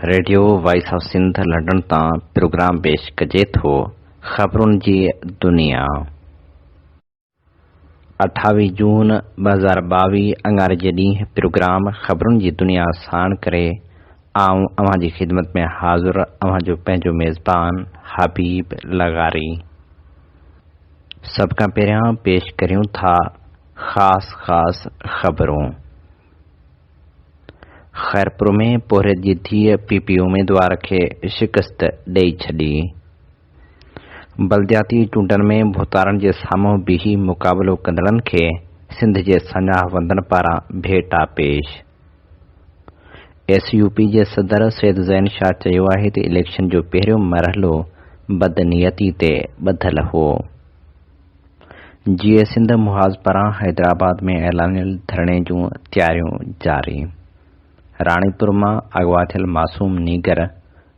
Radio voice of Sindh London تان programme پيش ڪجي ٿو خبرن جي دنيا اٺاويهه جون ٻه هزار ٻاويهه اڱاري جي ڏينهن پروگرام خبرن جي دنيا ساڻ ڪري آئون اوهان جي خدمت ۾ حاضر اوهان جو پنهنجو ميزبان حبيب لغاري سڀ کان پهريان پيش ڪريون ٿا خاص خاص خبرون خيرپور ۾ پورهيت جي ڌيء پي پي اميدوار کي شڪست ڏئي ڇڏي. بلدياتي چونڊن ۾ ڀوتارن جي سامهون بيهي مقابلو ڪندڙن کي سنڌ جي سڃاهه وندن پاران ڀيٽا پيش. ايس يو پي جي صدر سيد زين شاهه چيو آهي ته اليڪشن جو پهريون مرحلو بدنيتي تي ٻڌل هو. جيئي سنڌ محاذ پاران حيدرآباد ۾ اعلانيل ڌرڻي جون تياريون جاري. راڻيپور مان اغوا ٿيل معصوم نينگر،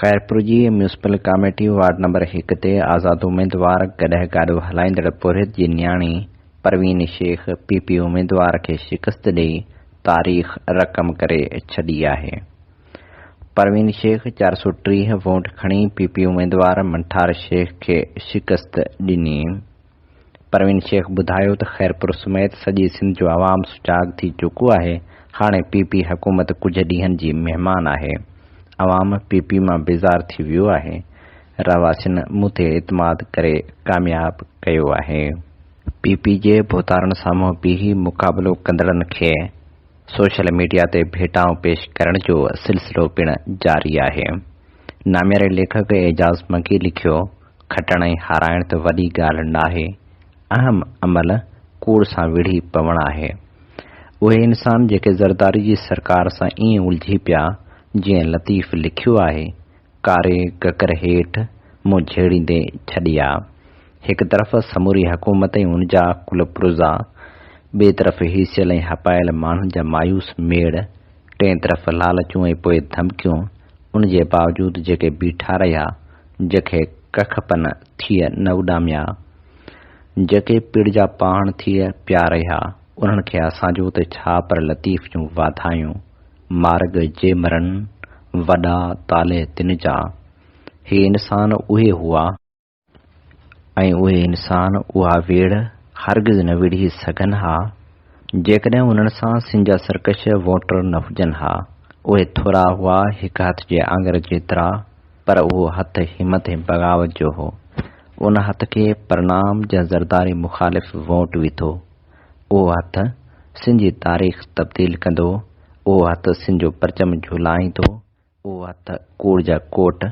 خيرپور جي ميونسپل ڪاميٽي وارڊ نمبر هڪ تي آزاد اميدوار گڏهه گاڏو هلائيندڙ پورهيت جي نياڻي پروين شيخ پي پي اميدوار کي شڪست ڏئي تاريخ رقم ڪري ڇڏي آهي. پروين شيخ چار سؤ ٽيهه ووٽ کڻي پي پي اميدوار منٺار شيخ کي شڪست ڏني. پروين شيخ ٻڌايو ته خيرپور سميت سڄي سنڌ جو عوام سجاڳ ٿي چڪو آهي، هاڻي پي پي حڪومت ڪجهه ڏينهن جي مهمان آهي، عوام پي پي مان بيزار ٿي ويو آهي، رهواسين مون تي اعتماد ڪري ڪامياب ڪيو آهي. پي پي جي ڀوتارن سامهون بيهي مقابلو ڪندڙن کي سوشل ميڊيا تي ڀيٽائون پيش ڪرڻ جو سلسلو پڻ جاري آهي. نامياري ليکڪ اعجاز مگي لکيو. کٽڻ ۽ هارائڻ ته وڏي ڳالهه ناهي، اهم عمل ڪوڙ سان وڙهي پوڻ آهي. اهي انسان جيڪي زرداري جي سرڪار سان ائين الجهي پيا، جيئن لطيف لکيو آهي، ڪاري ڪڪر هيٺ منهن جهيڙيندي ڇڏي آ. هڪ طرف سموري حڪومت ۽ ان جا ڪل پرزا، ٻئي طرف هيسيل ۽ هپايل ماڻهن جا مايوس ميڙ، ٽئين طرف لالچون ۽ پوء ڌمڪيون، ان جي باوجود جيڪي بيٺا رهيا، جيڪي ڪک پن ٿيء نه اڏاميا، جيڪي پڙ جا پاڻ ٿيء پيا رهيا، انهن کي اسان جو ته ڇا پر لطيف جون واڌايون، مارڳ جي مرن، وڏا طالع تن جا. هي انسان اهي هئا. ۽ اهي انسان اها ويڙهه هرگز نه ويڙهي سگهن ها، جيڪڏهن انهن سان سن جا سرڪش ووٽر نه هجن ها. اهي ٿورا هئا، هڪ هٿ جي آڱر جيترا. پر اهو هٿ همت ۽ بغاوت جو هو. ان هٿ کي پرنام جا زرداري مخالف ووٽ وٿو. اهو هٿ سن جي تاريخ تبديل ڪندو. اهو هٿ سن جو پرچم جهولائيندو. اهو هٿ ڪوڙ جا ڪوٽ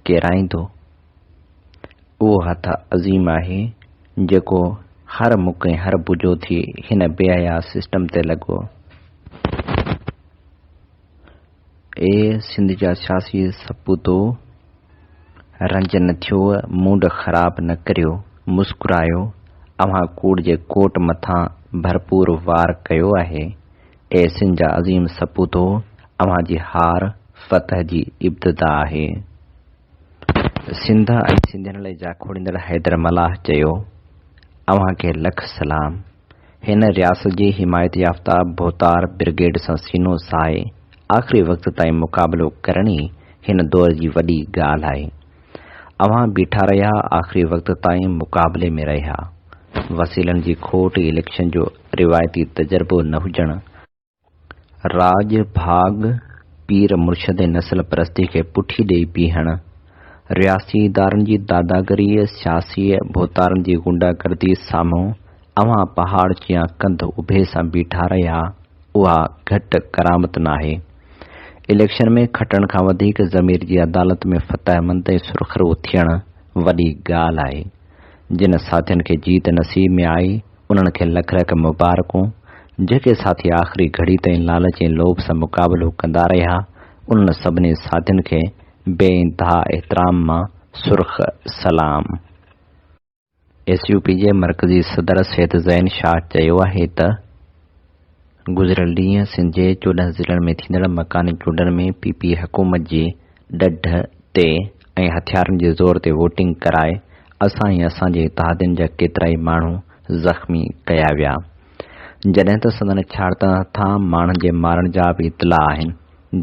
ڪيرائيندو. اهو هٿ عظيم آهي، جيڪو هر مک ۽ هر بجو ٿي هن بي حيا سسٽم تي لڳو. اي سنڌ جا سياسي سپوتو، رنج نه ٿيو، موڊ خراب نه ڪريو، مسڪرايو، اوهان ڪوڙ جي ڪوٽ مٿان ڀرپور وار ڪيو آهي. اي سنڌ جا عظيم سپوتو، اوهان جي هار، فتح جي ابتدا آهي. سنڌ ۽ سنڌين لاء جاکوڙيندڙ حيدر ملاح چيو، اوهان کي لک سلام. هن رياست جي حمايت يافته ڀوتار برگيڊ سان سينو ساهي آخري وقت تائين مقابلو ڪرڻ ئي هن دور جي وڏي ڳالهه آهي. اوهان بيٺا رهيا آخري وقت تائين مقابلي ۾ رهيا. وسيلن جي کوٽ اليڪشن جو روايتي تجربو نه هجڻ، راڄ ڀاڳ پير مرشد ۽ نسل پرستيء کي پٺي ڏيئي بيهڻ، رياستي ادارن جي داداگريء، سياسيء ڀوتارن جي غنڊا گرديء سامهون اوهان پهاڙ جيان ڪنڌ اڀي سان بيٺا رهيا، اها گهٽ ڪرامت ناهي. اليڪشن ۾ کٽڻ کان وڌيڪ ضمير جي عدالت ۾ فتحمند ۽ سرخرو ٿيڻ وڏي ڳالهه آهي. جن ساٿين کي جيت نصيب ۾ آئي، انهن کي لک لک مبارڪون جيڪي ساٿي آخري گهڙي تائين لالچ ۽ لوڀ سان مقابلو ڪندا رهيا، انهن سڀني ساٿين کي بي انتها احترام مان سرخ سلام. ايس يو پي جي مرڪزي صدر سيد زين شاهه چيو آهي ته. گذريل ڏينهن سنڌ جي چوڏهن ضلعن ۾ ٿيندڙ مڪاني چونڊن ۾ پي پي حڪومت جي ڏڍ تي ۽ هٿيارن جي زور تي ووٽنگ ڪرائي اسان ۽ اسان جي اتحادين جا ڪيترائي ماڻهو زخمي ڪيا ويا جڏهن ته سندن ڇاڙتڻ هٿان ماڻهن جي مارڻ جا به اطلاع آهن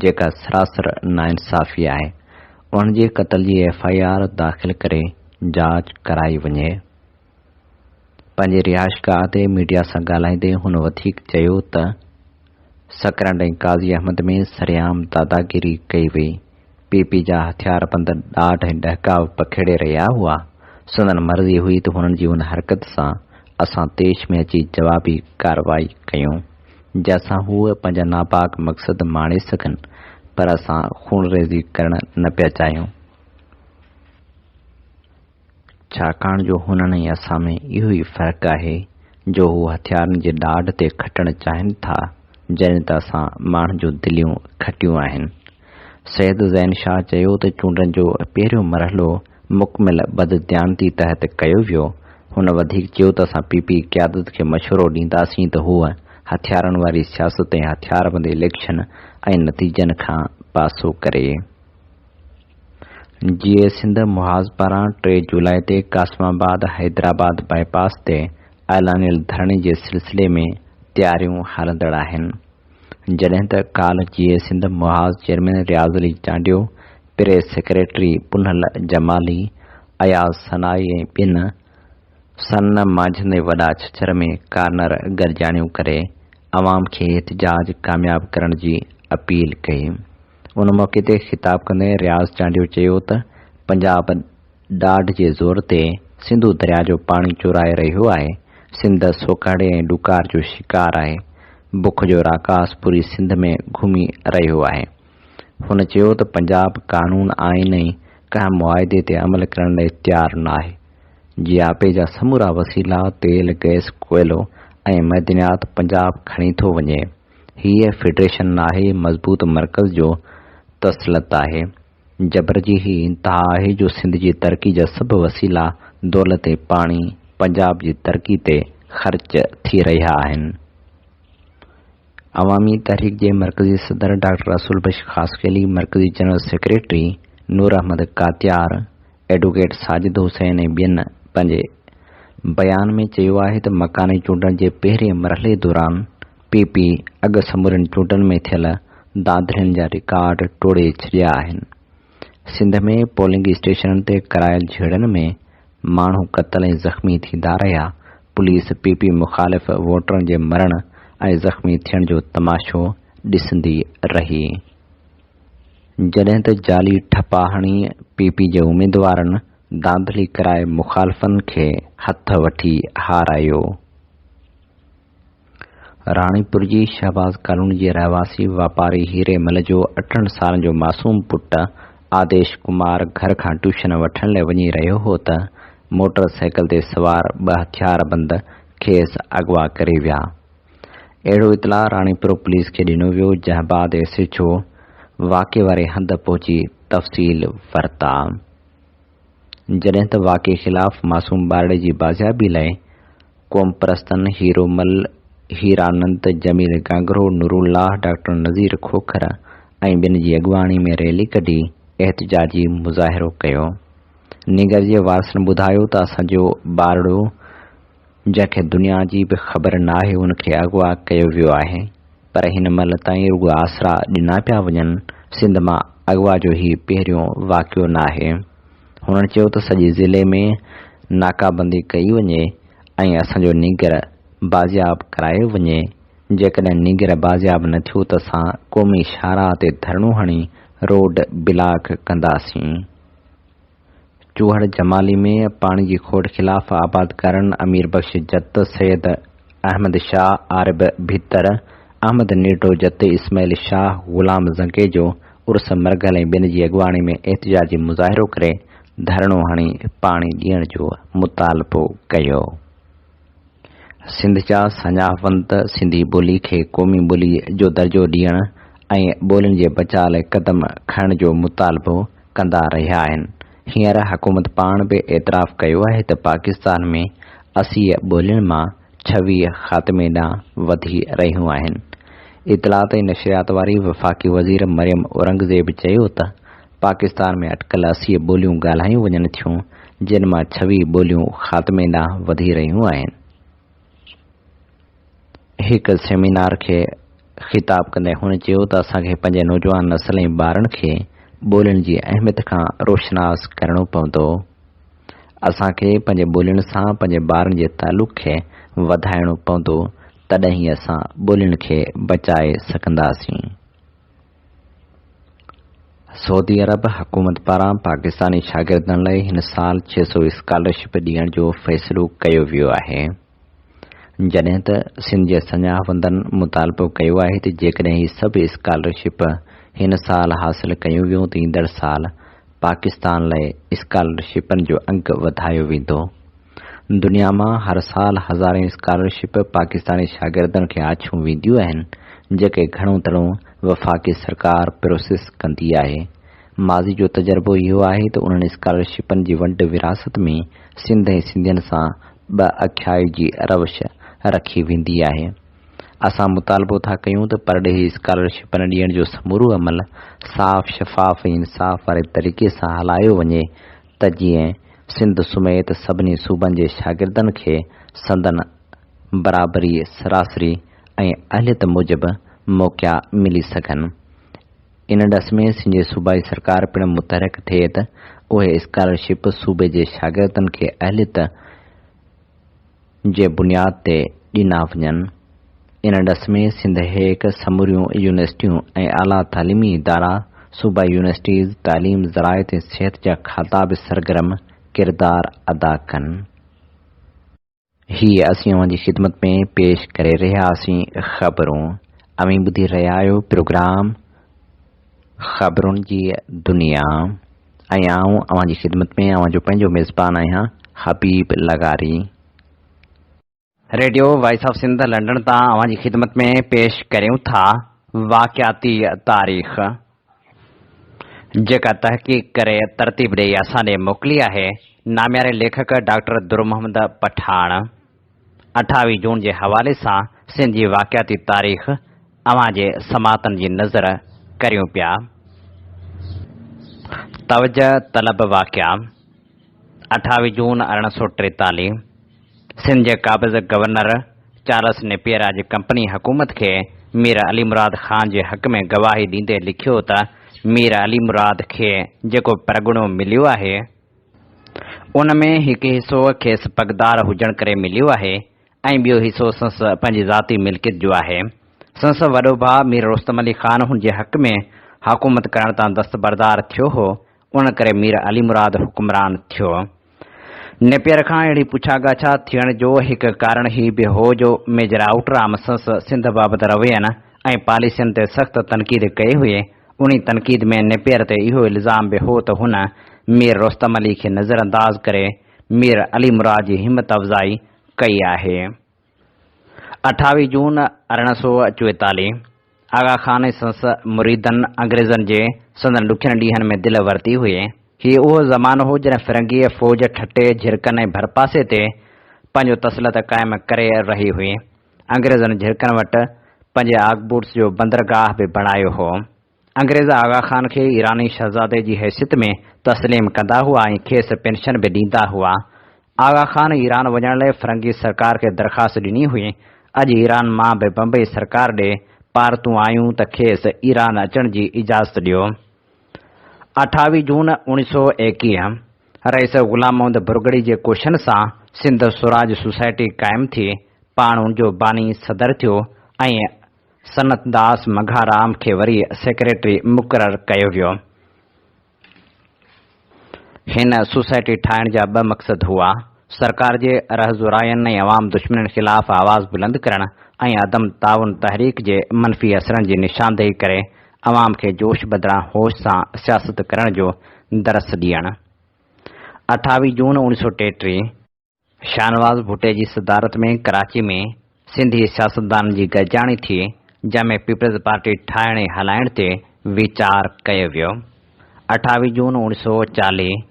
جيڪا سراسر ناانصافي آهي انهن جي قتل جي ايف آء آر داخل ڪري جاچ ڪرائي وڃي. پنهنجي رهائشگاهه تي ميڊيا سان ڳالهائيندي هن وڌيڪ چيو ته سڪرنڊ ۽ قاضي احمد ۾ سرعام داداگيري ڪئي وئي، پي پي جا هٿياربند ڏاڍ ۽ ڏهڪاء پکيڙي رهيا هئا، سندن مرضي هئي ته هنن جي ان حرڪت سان اسان طيش ۾ اچي جوابي ڪارروائي ڪيون، جنهن سان هو پنهنجا ناپاڪ مقصد ماڻي سگهن، پر اسان خونريزي ڪرڻ نه پيا چاهيون. ڇاڪاڻ جو هنن ۽ اسان ۾ اهو ئي فرق آهي جو هو هٿيارن جي ڏاڍ تي کٽڻ چاهين ٿا، جڏهن ته اسان ماڻهن جون دليون کٽيون آهن. سيد زين شاهه چيو ته چونڊن جو پهريون مرحلو مڪمل بدديانتي تحت ڪيو ويو. هن وڌيڪ چيو ته اسان پي پي قيادت کي مشورو ڏينداسين ته هوء هٿيارن واري سياست ۽ هٿياربند اليڪشن ۽ نتيجن کان پاسو ڪري. جيئي سنڌ محاذ پاران ٽي جولاء تي قاسم آباد حيدرآباد بائي پاس تي اعلانيل ڌرڻي جي سلسلي ۾ تياريون هلندڙ آهن جڏهن ته ڪالهه Jeay Sindh Mahaz chairman Riaz Ali Chandio press secretary Punhal Jamali Ayaz Sanai ۽ ٻين سن مانجهندي وڏا ڇڇر ۾ ڪارنر گڏجاڻيون ڪري عوام کي احتجاج ڪامياب ڪرڻ جي اپيل ڪئي. ان موقعي تي خطاب ڪندي رياض چانڊيو چيو ته پنجاب ڏاڍ جي زور تي سنڌو درياء جو پاڻي چورائي رهيو آهي، سنڌ سوڪهڙي ۽ ڏڪار جو شڪار آهي، بک جو راڪاس پوري سنڌ ۾ گهمي رهيو آهي. هن چيو ته پنجاب قانون، آئين ۽ ڪنهن معاهدي تي عمل ڪرڻ لاء تيار ناهي، جياپي جا سمورا وسيلا، تيل، گئس، ڪوئلو ۽ معدنيات پنجاب کڻي ٿو وڃي، هيء فيڊريشن ناهي، مضبوط مرڪز جو تسلط آهي، جبر جي هي انتها آهي جو سنڌ جي ترقي جا سڀ وسيلا، دولت ۽ پاڻي پنجاب جي ترقي تي خرچ ٿي رهيا آهن. عوامي تحريڪ جي مرڪزي صدر ڊاڪٽر رسول بخش خاصخيلي، مرڪزي general secretary Noor Ahmed Katiar, advocate Sajid Hussain ۽ ٻين پنهنجي بيان ۾ چيو آهي ته مڪاني چونڊن جي پهرين مرحلي دوران پي پي اڳ سمورين چونڊن ۾ ٿيل ڌانڌلين جا رڪارڊ ٽوڙي ڇڏيا آهن. سنڌ ۾ پولنگ اسٽيشنن تي ڪرايل جهيڙن ۾ ماڻهو قتل ۽ زخمي ٿيندا رهيا، پوليس پي پي مخالف ووٽرن جي مرڻ ۽ زخمي ٿيڻ جو تماشو ڏسندي رهي. جڏهن ته جعلي ٺپا هڻي پي پي جي اميدوارن ڌانڌلي ڪرائي مخالفن کي هٿ وٺي هارايو. راڻيپور جي شهباز ڪالوني جي رهواسي واپاري هيري مل جو اٺن سالن جو معصوم پٽ آديش ڪمار گهر کان ٽيوشن وٺڻ لاء وڃي رهيو هو ته موٽر سائيڪل تي سوار ٻه هٿياربند کيس اغوا ڪري ويا. اهڙو اطلاع راڻيپور پوليس کي ڏنو ويو جنهن بعد ايس ايڇ او واقعي واري هنڌ پهچي تفصيل ورتا. جڏهن ته واقعي خلاف معصوم ٻارڙي جي بازيابي لاء قومپرستن هيرومل، هيرانند، جميل گانگرو، نورالله، ڊاڪٽر نذير کوکر ۽ ٻين جي اڳواڻي ۾ ريلي ڪڍي احتجاجي مظاهرو ڪيو. نينگر جي وارثن ٻڌايو ته اسان جو ٻارڙو، جنهن کي دنيا جي به خبر ناهي ان کي اغوا ڪيو ويو آهي پر هن مهل تائين رڳو آسرا ڏنا پيا وڃن، سنڌ مان اغوا جو هي پهريون واقعو ناهي، هنن چيو ته سڄي ضلعي ۾ ناڪابندي ڪئي وڃي ۽ اسان جو نينگر بازياب ڪرايو وڃي، جيڪڏهن نينگر بازياب نه ٿيو ته اسان قومي شاهراهه تي ڌرڻو هڻي روڊ بلاڪ ڪنداسين. چوهڙ جمالي ۾ پاڻي جي کوٽ خلاف آبادگارن امير بخش جت، سيد احمد شاهه، عارب ڀتر، احمد نيٽو جت، اسماعيل شاهه، غلام زنگيجو عرس مرگهل ۽ ٻين جي اڳواڻي ۾ احتجاجي مظاهرو ڪري ڌرڻو هڻي پاڻي ڏيڻ جو مطالبو ڪيو. سنڌ جا سڃاوند سنڌي ٻولي کي قومي ٻولي جو درجو ڏيڻ ۽ ٻولين جي بچاء لاء قدم کڻڻ جو مطالبو ڪندا رهيا آهن. هينئر حڪومت پاڻ به اعتراف ڪيو آهي ته پاڪستان ۾ اسيء ٻولين مان ڇويهه خاتمي ڏانهن وڌي رهيون آهن. اطلاعات ۽ نشريات واري وفاقي وزير مريم اورنگزيب چيو ته پاڪستان ۾ اٽڪل اسيء ٻوليون ڳالهايون وڃن ٿيون جن مان ڇويهه ٻوليون خاتمي ڏانهن وڌي رهيون آهن. هڪ سيمينار کي خطاب ڪندي هن چيو ته اسان کي پنهنجي نوجوان نسل ۽ ٻارن کي ٻولين جي اهميت کان روشناس ڪرڻو پوندو. اسان کي پنهنجي ٻولين سان پنهنجي ٻارن جي تعلق کي وڌائڻو پوندو تڏهن ئي اسان ٻولين کي بچائي سگهنداسين. سعودي عرب حڪومت پاران پاڪستاني شاگردن لاء هن سال ڇهه سؤ اسڪالرشپ ڏيڻ جو فيصلو ڪيو ويو آهي، جڏهن ته سنڌ جي سڃاهوندن مطالبو ڪيو آهي ته جيڪڏهن هي سڀ اسڪالرشپ هن سال حاصل ڪيون ويون ته ايندڙ سال پاڪستان لاء اسڪالرشپن جو انگ وڌايو ويندو. دنيا مان هر سال هزارين اسڪالرشپ پاڪستاني شاگردن کي آڇيون وينديون آهن، جيڪي گهڻو تڻو وفاقي سرڪار پروسيس ڪندي آهي. ماضي جو تجربو اهو آهي ته انهن اسڪالرشپن جي ونڊ ورهاست ۾ سنڌ ۽ سنڌين سان ٻه اکيائي جي روش رکي ويندي آهي. اسان مطالبو ٿا ڪيون ته پرڏيهي اسڪالرشپن ڏيڻ جو سمورو عمل صاف، شفاف ۽ انصاف واري طريقي سان هلايو وڃي ته جيئن سنڌ سميت سڀني صوبن جي شاگردن کي سندن برابري سراسري ۽ اهليت موجب موقعا ملي سگهن. ان ڏس ۾ سنجي صوبائي سرڪار پڻ متحرڪ ٿئي ته اهي اسڪالرشپ صوبي جي شاگردن کي اهليت، جي بنياد تي ڏنا وڃن. ان ڏس ۾ سنڌ هيڪ سموريون يونيورسٽيون ۽ اعليٰ تعليمي ادارا، صوبائي يونيورسٽيز، تعليم، زراعت ۽ صحت جا کاتا به سرگرم ڪردار ادا ڪن. هي اسين اوهان جي خدمت ۾ پيش ڪري رهياسين خبرون. اوهين ٻڌي رهيا آهيو پروگرام خبرن جي دنيا. ۽ آئون اوهان جي خدمت ۾ اوهان جو پنهنجو ميزبان آهيان حبيب لغاري. Radio voice of Sindh London تان اوهان جي خدمت ۾ پيش ڪريون ٿا واقعاتي تاريخ جيڪا تحقيق ڪري ترتيب ڏئي اسان ڏي موڪلي آهي نامياري ليکڪ ڊاڪٽر درمحمد پٺاڻ. اٺاويهه جون جي حوالي سان سنڌ جي واقعاتي تاريخ اوهان جي سماعتن جي نذر ڪريون پيا. توجهه طلب واقعا، اٺاويهه جون ارڙهن سؤ ٽيتاليهه، سنڌ جي قابض گورنر چارلس نيپيئر اڄ ڪمپني حڪومت کي مير علي مراد خان جي حق ۾ گواهي ڏيندي لکيو ته مير علي مراد کي جيڪو پرڳڻو مليو آهي، ان ۾ هڪ حصو کيس پڳدار هجڻ ڪري مليو آهي ۽ ٻيو حصو سنس پنهنجي ذاتي ملڪيت جو آهي. سنس وڏو ڀاء مير رستم علي خان هن جي حق ۾ حڪومت ڪرڻ تان دستبردار ٿيو هو، ان ڪري مير علي مراد حڪمران ٿيو. نيپئر کان اهڙي پڇا ڳاڇا ٿيڻ جو هڪ ڪارڻ هي به هو جو ميجر آئوٽرام سنس سنڌ بابت روين ۽ پاليسين تي سخت تنقيد ڪئي هئي، انهي تنقيد ۾ نيپئر تي اهو الزام به هو ته هن مير رستم علي کي نظرانداز ڪري مير علي مراد جي همت افزائي ڪئي آهي. اٺاويهه جون ارڙهن سؤ چويتاليهه، آغا خان ۽ سندس مريدن انگريزن جي سندن ڏکين ڏينهن ۾ دل ورتي هئي. هي اهو زمانو هو جڏهن فرنگيء فوج ٺٽي، جهرڪن ۽ ڀرپاسي تي پنهنجو تسلط قائم ڪري رهي هئي. انگريزن جهرڪن وٽ پنهنجي آگبوٽس جو بندرگاهه به بڻايو هو. انگريز آغا خان کي ايراني شهزادي جي حيثيت ۾ تسليم ڪندا هئا ۽ کيس پينشن به ڏيندا هئا. آغا خان ايران وڃڻ لئي فرنگي سرڪار کي درخواست ڏني هئي. اڄ ايران مان به بمبئي سرڪار ڏي پارتون آيون ته کيس ايران اچڻ جي اجازت ڏيو. اٺاويهه جون اوڻيهه سؤ ايڪيهه رئيس غلام محمد ڀرڳڙي جي ڪوششن سان سنڌ سوراج سوسائٽي قائم ٿي، پاڻ ان جو باني صدر ٿيو ۽ سنت داس مگهارام کي وري سيڪريٽري مقرر ڪيو ويو. هن سوسائٽي ٺاهڻ جا ٻه مقصد هئا، سرڪار جي رهزوراين ۽ عوام دشمنين خلاف آواز بلند ڪرڻ ۽ عدم تعاون تحريڪ جي منفي اثرن جي نشاندهي ڪري عوام کي جوش بدران هوش سان سياست ڪرڻ جو درس ڏيڻ. اٺاويهه جون اوڻيهه سؤ ٽيٽيهه. شاهنواز ڀٽي جي صدارت ۾ ڪراچي ۾ سنڌي سياستدانن جي گڏجاڻي ٿي، جنهن ۾ پيپلز پارٽي ٺاهڻ ۽ هلائڻ تي ويچار ڪيو ويو. اٺاويهه جون اوڻ سؤ چاليهه،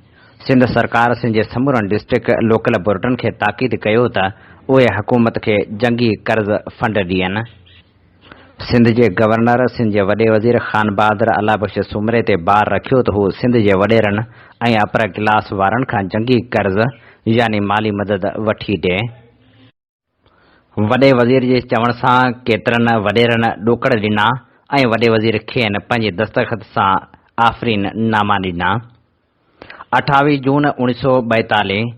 سنڌ سرڪار سنڌ جي سمورن ڊسٽرڪٽ لوڪل بورڊن کي تاڪيد ڪيو ته اهي حڪومت کي جنگي قرض فنڊ ڏين. سنڌ جي گورنر سنڌ جي وڏي وزير خان بهادر الله بخش سومري تي بار رکيو ته هو سنڌ جي وڏيرن ۽ اپر ڪلاس وارن کان جنگي قرض يعني مالي مدد وٺي ڏي. وڏي وزير جي چوڻ سان ڪيترن وڏيرن ڏوڪڙ ڏنا ۽ وڏي وزير کين پنهنجي دستخط سان آفرين ناما ڏنا. اٺاويهه جون اوڻيهه سؤ ٻائيتاليهه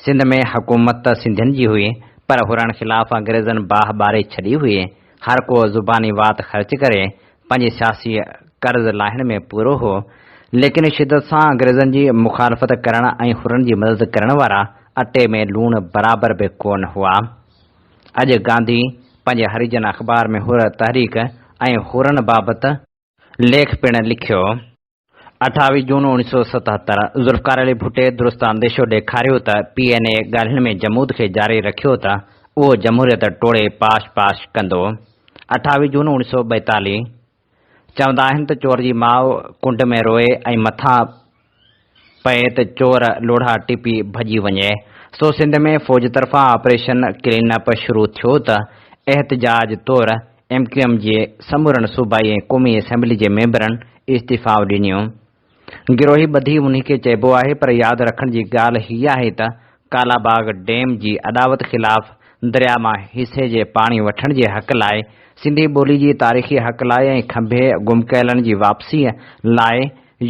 سنڌ ۾ حڪومت ته سنڌين جي هئي پر هرڻ خلاف انگريزن باهه ٻاري ڇڏي هئي. هر ڪو زباني وات خرچ ڪري پنهنجي سياسي قرض لاهڻ ۾ پورو هو. ليڪن شدت سان انگريزن جي مخالفت ڪرڻ ۽ هرڻ جي مدد ڪرڻ وارا اٽي ۾ لوڻ برابر به ڪونه هئا. اڄ گانڌي پنهنجي هريجن اخبار ۾ هر تحريڪ ۽ هرڻ بابت ليک پڻ لکيو. اٺاويهه جون اوڻيهه سؤ ستهتر، ذوالفقار علي ڀٽي درست انديشو ڏيکاريو ته پي اين اي ڳالهين ۾ جمود کي جاري رکيو ته اهو جمهوريت ٽوڙي پاش پاش ڪندو. اٺاويهه جون اوڻيهه سؤ ٻائيتاليهه، چوندا آهن ته چور جي ماء ڪنڊ ۾ روئي ۽ مٿان پئي ته چور لوڙها ٽپي ڀڄي وڃي، سو سنڌ ۾ فوج طرفان آپريشن ڪلين اپ شروع ٿيو ته احتجاج طور ايم ڪيو ايم جي سمورن صوبائي ۽ قومي اسيمبلي جي ميمبرن استعيفائون ڏنيون. گروهي ٻڌي انهي کي چئبو آهي پر ياد رکڻ جي ڳالهه هي آهي ته ڪالا باغ ڊيم جي اڏاوت خلاف درياء مان حصي جي پاڻي وٺڻ جي حق لاء، سنڌي ٻولي جي تاريخي حق لاء ۽ کنڀي گم ڪيلن جي واپسيء لاء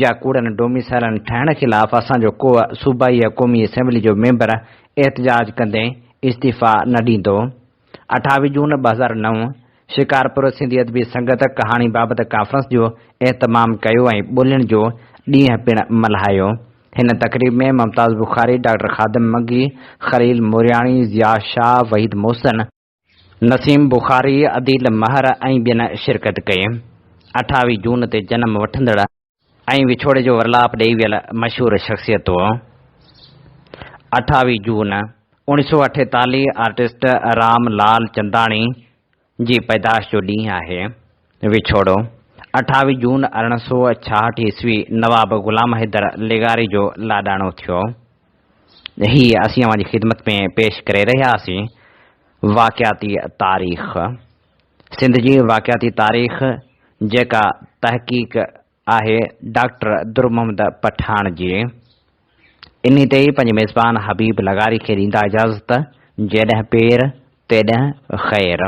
يا ڪوڙن ڊوميسائلن ٺهڻ خلاف اسان جو ڪوء صوبائي يا قومي اسيمبلي جو ميمبر احتجاج ڪندي استعيفا نه ڏيندو. اٺاويهه جون ٻه هزار نو، شڪارپور سنڌي ادبي سنگت ڪهاڻي بابت ڪانفرنس جو اهتمام ڪيو ۽ ٻولين جو ڏينهن پڻ ملهايو. هن تقريب ۾ ممتاز بخاري، ڊاڪٽر خادم مگي، خليل مورياڻي، ضياء شاهه، وحيد محسن، نسيم بخاري، عديل مهر ۽ ٻين شرڪت ڪئي اٺاويهه جون تي جنم وٺندڙ ۽ وڇوڙي جو ورلاپ ڏئي ويل مشهور شخصيتون اٺاويهه جون اوڻيهه سؤ اٺيتاليهه آرٽسٽ رام لال چنداڻي جي پيدائش جو ڏينهن آهي وڇوڙو اٺاويهه جون ارڙهن سؤ ڇاهٺ عيسوي نواب غلام حيدر لغاري جو لاڏاڻو ٿيو هي اسين اوهان جي خدمت ۾ پيش ڪري رهياسين واقعاتي تاريخ. سنڌ جي واقعاتي تاريخ جيڪا تحقيق آهي ڊاڪٽر در محمد پٺاڻ جي انهي تي ئي پنهنجي ميزبان حبيب لغاري کي ڏيندا اجازت جيڏهن پير تيڏهن خير.